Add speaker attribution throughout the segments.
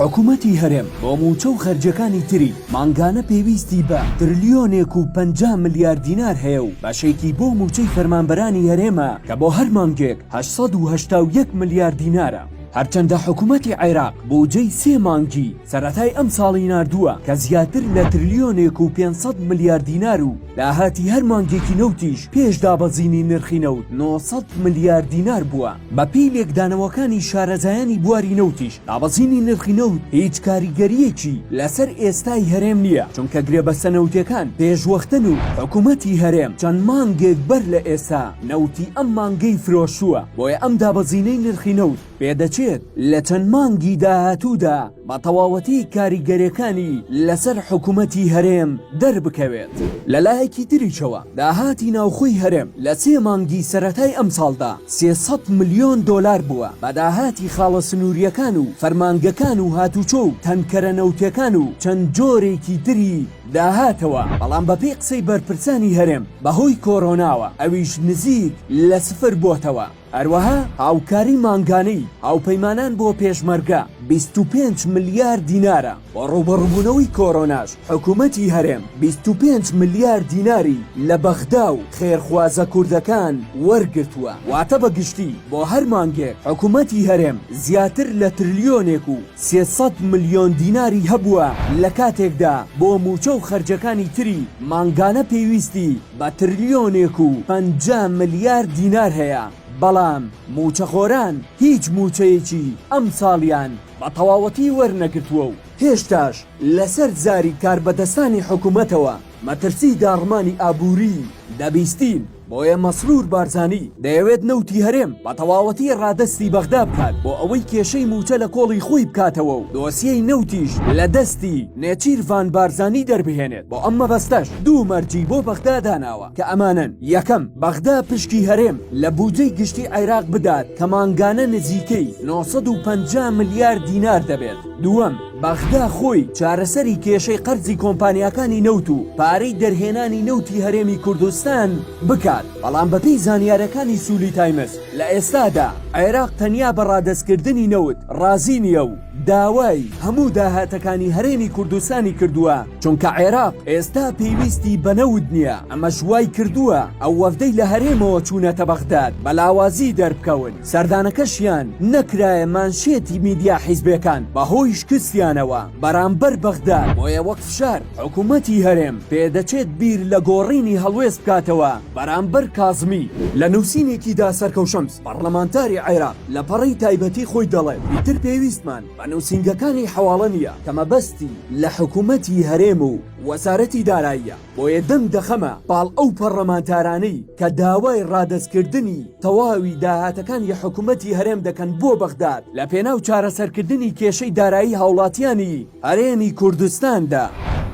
Speaker 1: حکومەتی هەرێم بۆ مووچە و خەرجیەکانی تری مانگانە پێویستی بە ترلیۆنێک و پەنجا ملیار دینار هەیە و بەشێکی بۆ مووچەی فەرمانبەرانی هەرێمە کە بۆ هەر مانگێک هەشت سەد و هەشتا و یەک ملیار دینارە. هەرچەندە حکومەتی عێراق بووجەی سێ مانگی سەرەتای ئەمساڵی ناردووە کە زیاتر لە ترلیۆنێک و پێنج سەد ملیار دینار و، داهاتی هەر مانگێکی نەوتیش پێش دابەزینی نرخی نەوت نۆ سەد ملیار دینار بووە. بەپێی لێکدانەوەکانی شارەزایانی بواری نەوتیش، دابەزینی نرخی نەوت هیچ کاریگەرییەکی لەسەر ئێستای هەرێم نییە، چونکە گرێبەستە نەوتییەکان پێشوەختەن و حکومەتی هەرێم چەند مانگێک بەر لە ئێستا نەوتی ئەم مانگەی فرۆشتووە، بۆیە ئەم دابەزینەی نرخی نەوت، پێدەچێت لە چەند مانگی داهاتوودا بە تەواوەتی کاریگەریەکانی لەسەر حکومەتی هەرێم دەربکەوێت. لەلایەکی تریشەوە داهاتی ناوخۆی هەرێم لە سێ مانگی سەرەتای ئەمساڵدا سێ سەد ملیۆن دۆلار بووە بە داهاتی خاڵە سنووریەکان و فەرمانگەکان و هاتوچۆ و تەنکەرە نەوتێکان و چەند جۆرێکی تری داهاتەوە، بەڵام بەپێی قسەی بەرپرسانی هەرێم بەهۆی کۆرۆناوە ئەویش نزیک لە سفر بۆتەوە. هەروەها هاوکاری مانگانەی هاوپەیمانان بۆ پێشمەرگە بیست و پێنج ملیار دینارە، بۆ ڕووبەڕووبوونەوەی کۆرۆناش حکوومەتی هەرێم بیست و پێنج ملیار دیناری لە بەغدا و خێرخوازە کوردەکان وەرگرتووە، واتە بە گشتی بۆ هەر مانگێک حکوومەتی هەرێم زیاتر لە ترلیۆنێک و سێ سەد ملیۆن دیناری هەبووە، لە کاتێکدا بۆ مووچە و خەرجەکانی تری مانگانە پێویستی. بە ترلیۆنێک و پەنجا ملیار دینار هەیە، بەڵام مووچەخۆران هیچ مووچەیەکی ئەمساڵیان بە تەواوەتی وەرنەگرتووە و هێشتاش لەسەر زاری کاربەدەستانی حکومەتەوە مەترسی داڕمانی ئابووریی دەبیستین، بۆیە مەسرور بارزانی دەیەوێت نەوتی هەرێم بە تەواوەتی ڕادەستی بەغدا بکات بۆ ئەوەی کێشەی مووچە لە کۆڵی خۆی بکاتەوە و دۆسیەی نەوتیش لە دەستی نێچیرڤان بارزانی دەربهێنێت. بۆ ئەم مەبەستەش دوو مەرجی بۆ بەغدا داناوە کە ئەمانەن یەکەم بەغدا پشکی هەرێم لە بودجەی گشتی عێراق بدات کە مانگانە نزیکەی 950 ملیار دینار دەبێت دووەم بەغدا خۆی چارەسەری کێشەی قەرزی کۆمپانیاکانی نەوت و پارەی دەرهێنانی نەوتی هەرێمی کوردستان بکات بەڵام بەپی زانیارەکانی سولی تایمز لە ئێستادا عێراق تەنیا بە ڕادەستکردنی نەوت ڕازی نییە و داوای هەموو داهاتەکانی هەرێمی کوردستانی کردووە، چونکە عێراق ئێستا پێویستی بە نەوت نییە، ئەمەش وایکردووە ئەو وەفدەی لە هەرێمەوە چوونەتە بەغداد بە لاوازی دەربکەون، سەردانەکەشیان نەکرایە مانشێتی میدیا حیزبێکان بەهۆی شکستیانەوە بەرامبەر بەغداد، بۆیە وەک فشار حکومەتی هەرێم پێدەچێت بیر لە گۆڕینی هەڵوێست بکاتەوە بەرامبەر کازمی. لە نووسینێکیدا سەرکەوشەم پەڕلەمانتاری عێراق لە پەڕەی تایبەتی خۆی دەڵێت، ئیتر پێویستمان بە نووسینگەکانی حەواڵە نییە کە مەبەستی لە حکوومەتی هەرێم و وەزارەتی داراییە، بۆیە دەنگ دەخەمە پاڵ ئەو پەڕلەمانتارانەی کە داوای ڕادەستکردنی تەواوی داهاتەکانی حکوومەتی هەرێم دەکەن بۆ بەغداد لە پێناو چارەسەرکردنی کێشەی دارایی هاوڵاتییانی هەرێمی کوردستاندا.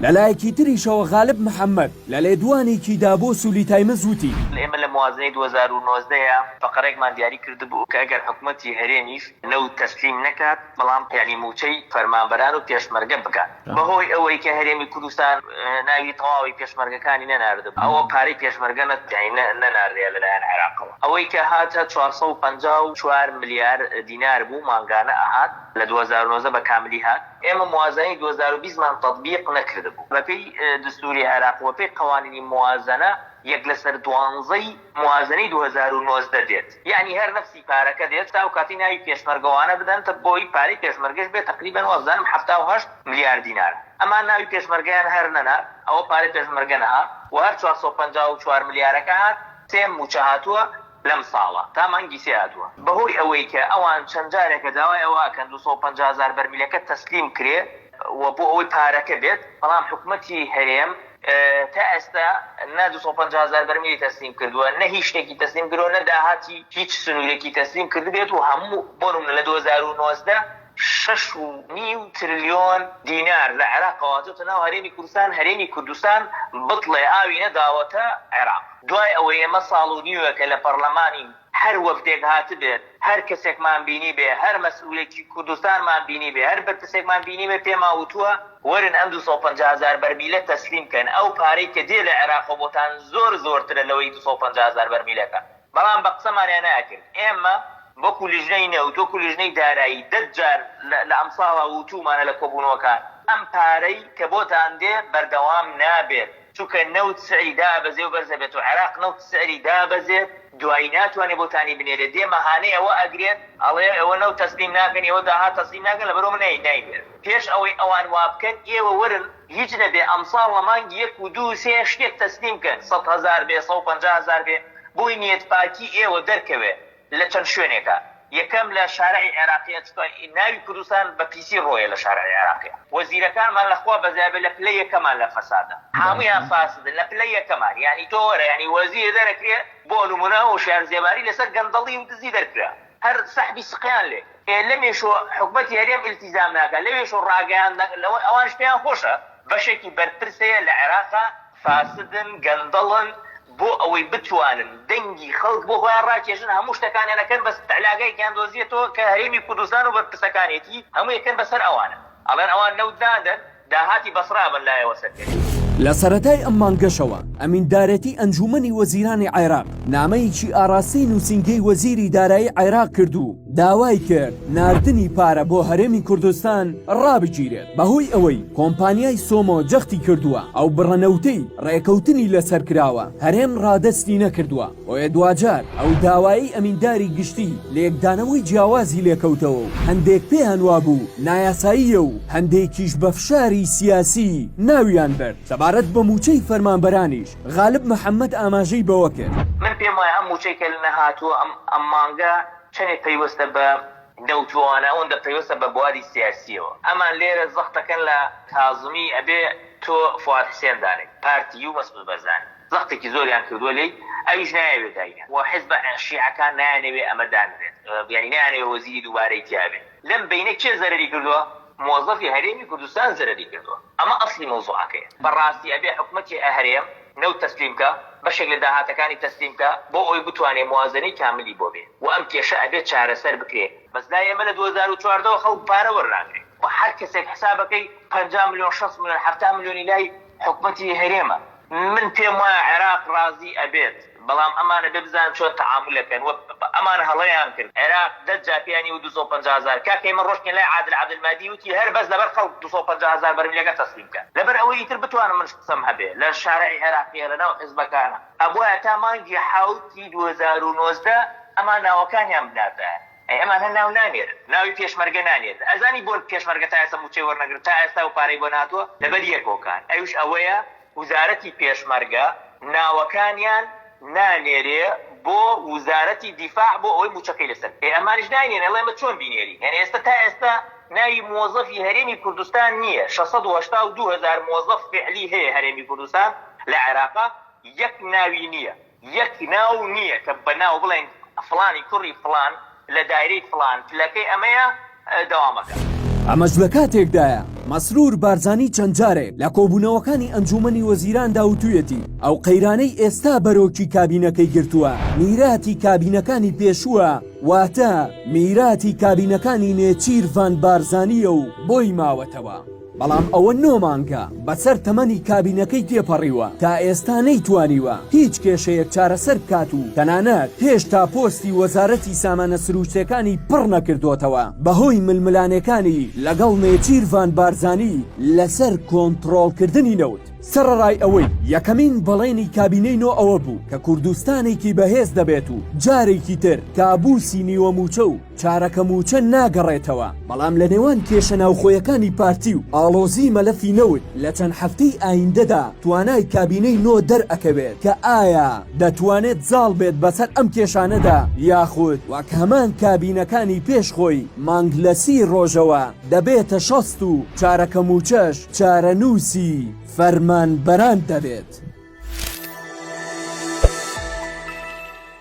Speaker 1: لەلایەکی تریشەوە غالب محەممەد، لە لێدوانێکی دا بۆ سولی تایمز وتی، ئێمە لە موازنەی دوو
Speaker 2: هەزار و نۆزدە ەیە فەقەرەێکمان دیاری کردبوو کە ئەگەر حکومەتی هەرێمیش نەوت تەسلیم نەکات بەڵام یانی مووچەی فەرمانبەران و پێشمەرگە بکات بەهۆی ئەوەی کە هەرێمی کوردستان ناوی تەواوی پێشمەرگەکانی نەناردبوو ئەوە پارەی پێشمەرگە نەناردرێ لە لایەن عێراقەوە ئەوەی کە هات چوار سەد و پەنجا و چوار ملیار دینار بوو مانگانە ئەهات لە دوو هەزار و نۆزدە بە کاملی هات. ئێمە موازەنەی دوو هەزار و بیست مان تەتبیق نەکردبوو. بەپێی دەستووری عێراق و بەپێی قەوانینی موازەنە یەک لەسەر دوانزەی موازەنەی دوو هەزار و نۆزدە دێت، یەعنی هەر نەفسی پارەکە دێت، تا ئەوکاتەی ناوی پێشمەرگەوانە بدەن تە بۆی پارەی پێشمەرگەش بێت تەقریبەن وابزانم حەفتا و هەشت ملیار دینارە، ئەمان ناوی پێشمەرگەیان هەر نەنا ئەوە پارەی پێشمەرگە نەهات و هەر چوار سەد و پەنجا و چوار ملیارەکە هات سێ مووچە هاتووە لەم ساڵە تا مانگی سێ هاتووە. بەهۆی ئەوەی کە ئەوان چەند جارێکە داوای ئەوە ئەکەن دوو سەد و پەنجا هەزار بەرمیلەکە تەسلیم کرێ و بۆ ئەوەی پارەکە بێت، بەڵام حکومەتی هەرێم تا ئێستا نە دوو سەد و پەنجا هەزار بەرمیلی تەسلیم کردووە، نە هیچ شتێکی تەسلیم کردووە، نە داهاتی هیچ سنوورێکی تەسلیم کردبێت و هەموو بۆ نموونە لە دوو هەزار و نۆزدە، شەش و نیو ترلیۆن دینار لە عێراقەوە هاتۆتە ناو هەرێمی کوردستان، هەرێمی کوردستان بتڵێ ئاوی نەداوەتە عێراق، دوای ئەوەی ئێمە ساڵ و نیوێکە لە پەڕلەمانین، هەر وەفدێک هاتبێت، هەر کەسێکمان بینیبێ، هەر مەسئولێکی کوردستانمان بینیبێ، هەر بەرپرسێکمان بینیبێ پێمان وتووە وەرن ئەم دوو سەد و پەنجا هەزار بەرمیلە تەسلیم کەن، ئەو پارەی کە دێ لە عێراقەوە بۆتان زۆر زۆرترە لەوەی دوو سەد و پەنجا هەزار بەرمیلەکە. بەڵام بە قسەمانیان ناکرد، ئێمە وەکو لیژنەی نەوت، وەکو لیژنەی دارایی دە جار لە ئەمساڵا وتوومانە لە کۆبوونەوەکان، ئەم پارەی کە بۆتان دێ بەردەوام نابێت، چونکە نەوت سعری دابەزێ و بەرز ئەبێت و عێراق نەوت سعری دابەزێت دوایی ناتوانێت بۆتانی بنێرێت، دێ مەهانەی ئەوە ئەگرێت ئەڵێ ئێوە نەوت تەسلیم ناکەن، ئێوە داهات تەسلیم ناکەن، لەبەرئەوە نایەوێت، پێش ئەوەی ئەوان وابکەن ئێوە وەرن هیچ نەبێ ئەمساڵ لە مانگی یەک و دوو و سێ شتێک تەسلیم کەن سەد هەزار بێ سەد و پەنجا هەزار بێ بۆی نیەت پاکی ئێوە دەرکەوێ لە چەند شوێنێکا یەکەم لە شارعی عێراقیە چونکە ناوی کوردستان بە پیسی ڕۆیە لە شارعی عێراقی وەزیرەکانمان لە خوا بەزای بێ لە پلە یەکەمان لە فەسادە هەموویان فاسدن لە پلە یەکەمان یانی تۆ وەرە یانی وەزیر دەرەکرێ بۆ نمونە هۆشیار زێباری لەسەر گەندەڵی و دزی دەرکرا هەر سەحبی سقیان لێ ئێ لەمێشۆ حکومەتی هەرێم ئیلتیزام ناکا لەوێشۆ ڕاگەیاندن لەوە ئەوانش پێیان خۆشە بەشێکی بەرپرس هەیە لە عێراقا فاسدن گەندەڵن بۆ ئەوەی بتوانن دەنگی خەڵک بۆ خۆیان ڕاکێشن هەموو شتەکانیان ئەکەن بەس تەلاگەیەکیان دۆزیەتەوە کە هەرێمی کوردستان و بەرپرسەکانێتی هەموو ئەکەن بەسەر ئەوانە ئەڵێن ئەوان نەوت نادەن داهاتی بەسڕە ئەبەن لایەوە سەرکەوی. لە سەرەتای
Speaker 1: ئەم مانگەشەوە ئەمیندارێتی ئەنجوومەنی وەزیرانی عێراق نامەیەکی ئاڕاستەی نووسینگەی وەزیری دارایی عێراق کرد و داوای کرد ناردنی پارە بۆ هەرێمی کوردستان ڕابگیرێت بەهۆی ئەوەی کۆمپانیای سۆمۆ جەختی کردووە ئەو بڕە نەوتەی ڕێکەوتنی لەسەر کراوە هەرێم ڕادەستی نەکردووە. بۆیە دواجار ئەو داوایەی ئەمینداری گشتی لێکدانەوەی جیاوازی لێکەوتەوە و هەندێک پێیان وابوو نایاساییە و هەندێکیش بە فشاری سیاسی ناویان برد. سەبارەت بە مووچەی فەرمانبەرانیش غالب محەممەد ئاماژەی بەوە کرد، من پێم وایە ئەم مووچەی
Speaker 2: کە نەهاتووە ئەم مانگە چەندێک پەیوەستە بە نەوتووانە ئەوەندە پەیوەستە بە بواری سیاسییەوە ئەمان لێرە زەخت دەکەن لە کازمی ئەبێ تۆ فواد حسێن دانێیت پارتی و مەسعود بەرزانی. زەختێکی زۆریان کردووە لێی ئەویش نایەوێ دایینێ و حزبە شیعەکان نایانەوێ ئەمە دانرێت یانی نایانەوێ وەزیری دووبارەی تیابێ لەم بەینە کێ زەرەری کردووە مۆزەفی هەرێمی کوردستان زەرەری کردووە ئەمە ئەسڵی مەوزوعەکەیە بەڕاستی ئەبێ حکومەتی هەرێم نەوت تەسلیم کا بەشێک لە داهاتەکانی تەسلیم کا بۆ ئەوەی بتوانێ موازەنەی کاملی بۆ بێ و ئەم کێشە ئەبێ چارەسەر بکرێ. بەس لای ئێمە لە دوو هەزار و چواردە وە خەڵک پارە وەرناگرێ و هەر کەسێک حسابەکەی پەنجا ملیۆن شەست ملیۆن حەفتا ملیۆنی لای حکومەتی هەرێمە من پێم وایە عێراق ڕازی ئەبێت بەڵام ئەمان ئەبێ بزانن چۆن تەعامول ئەکەن وە ئەمان هەڵەیان کرد عێراق دە جا پێیانی وت دوو سەد و پەنجا هەزار کاکە ئێمە ڕۆشتین لای عادل عبدل مادی وتی هەر بەس لەبەر خەڵک دوو سەد و پەنجا هەزار بەرمیلەکە تەسلیم کە لەبەر ئەوەی ئیتر بتوانم منش قسەم هەبێ لە شارەعی عێراقیە لە ناو حیزبەکانا ئەبوایە تا مانگی حەوت ی دوو هەزار و نۆزدە ئەمان ناوەکانیان بناردایە ئەی ئەمانە ناو نانێرن ناوی پێشمەرگە نانێرن ئەزانی بۆن پێشمەرگە تا ئێستا موچەی وەرنەگرن تا ئێستا و پارەی بۆ نەهاتوە لەبەر یەک هۆکار ئەویش ئەوەیە وزارەتی پێشمەرگە ناوەکانیان نانێرێ بۆ وزارەتی دیفاع بۆ ئەوەی موچەکەی لەسەر بکە ئێ ئەمانیش ناینێرن ئەڵێن ئێمە چۆن بینێرین یانی ئێستا تا ئێستا ناوی موەزەفی هەرێمی کوردستان نیە شەش سەد و هەشتا و دوو هەزار موەزەف فیعلی هەیە هەرێمی کوردستان لە عێراقا یەک ناوی نیە یەک ناو نییە کە بە ناو بڵێین فڵانی کوڕی فڵان لە دایرەی فڵان پلەکەی ئەمەیە. دەوامەکە.
Speaker 1: ئەمەش لە کاتێکدایە، مەسرور بارزانی چەند جارێک لە کۆبوونەوەکانی ئەنجوومەنی وەزیراندا وتوویەتی، ئەو قەیرانەی ئێستا بەرۆکی کابینەکەی گرتووە، میراتی کابینەکانی پێشووە، واتە میراتی کابینەکانی نێچیرڤان بارزانییە و بۆی ماوەتەوە. بەڵام ئەوە نۆ مانگە بەسەر تەمەنی کابینەکەی تێپەڕیوە تا ئێستا نەیتوانیوە هیچ کێشەیەک چارەسەر بکات و تەنانەت هێشتا پۆستی وەزارەتی سامانە سرووشتێکانی پڕ نەکردۆتەوە بەهۆی ململانێکانی لەگەڵ نێچیرڤان بارزانی لەسەر کۆنتڕۆڵکردنی نەوت. سەڕەڕای ئەوەی یەکەمین بەڵێنی کابینەی نۆ ئەوە بوو کە کوردستانێکی بەهێز دەبێت و جارێکی تر کابوسی نیوە مووچە و چارەکە مووچە ناگەڕێتەوە، بەڵام لە نێوان کێشە ناوخۆیەکانی پارتی و ئاڵۆزی مەلەفی نەوت لە چەند هەفتەی ئایندەدا توانای کابینەی نۆ دەرئەکەوێت کە ئایا دەتوانێت زاڵ بێت بەسەر ئەم کێشانەدا یاخود وەک هەمان کابینەکانی پێش خۆی مانگ لە سی ڕۆژەوە دەبێتە شەست و چارەکە مووچەش چارەنووسی فەرمانبەران دەبێت.